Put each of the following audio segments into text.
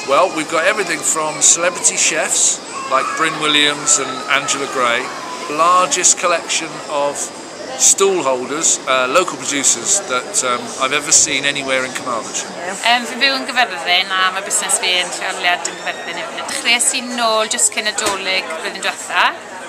Well, we've got everything from celebrity chefs like Bryn Williams and Angela Gray, largest collection of stall holders, uh, local producers that um, I've ever seen anywhere in Carmarthenshire. Um, fi'n byw yn Gyfyrddin a mae busnes fi yn lleoliad yn Gyfyrddin hefyd. Dechreuais i'n nôl jyst cyn y dolyg flwyddyn diwetha.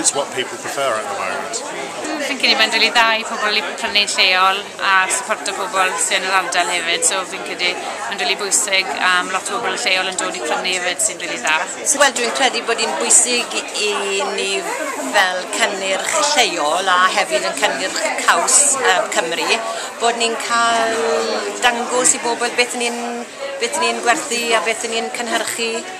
It's what people prefer at the moment. Fi'n credu mae'n rili dda i pobl i prynu'n lleol a supporto pobl sy'n yn yr ardal hefyd, so fi'n credu mae'n rili bwysig am lot o bobl lleol yn dod i prynu hefyd sy'n rili dda. Wel, dwi'n credu bod hi'n bwysig i ni fel cynnyrch lleol a hefyd yn cynnyrch caws uh, Cymru bod ni'n cael dangos i bobl beth ni'n beth ni'n gwerthu a beth ni'n cynhyrchu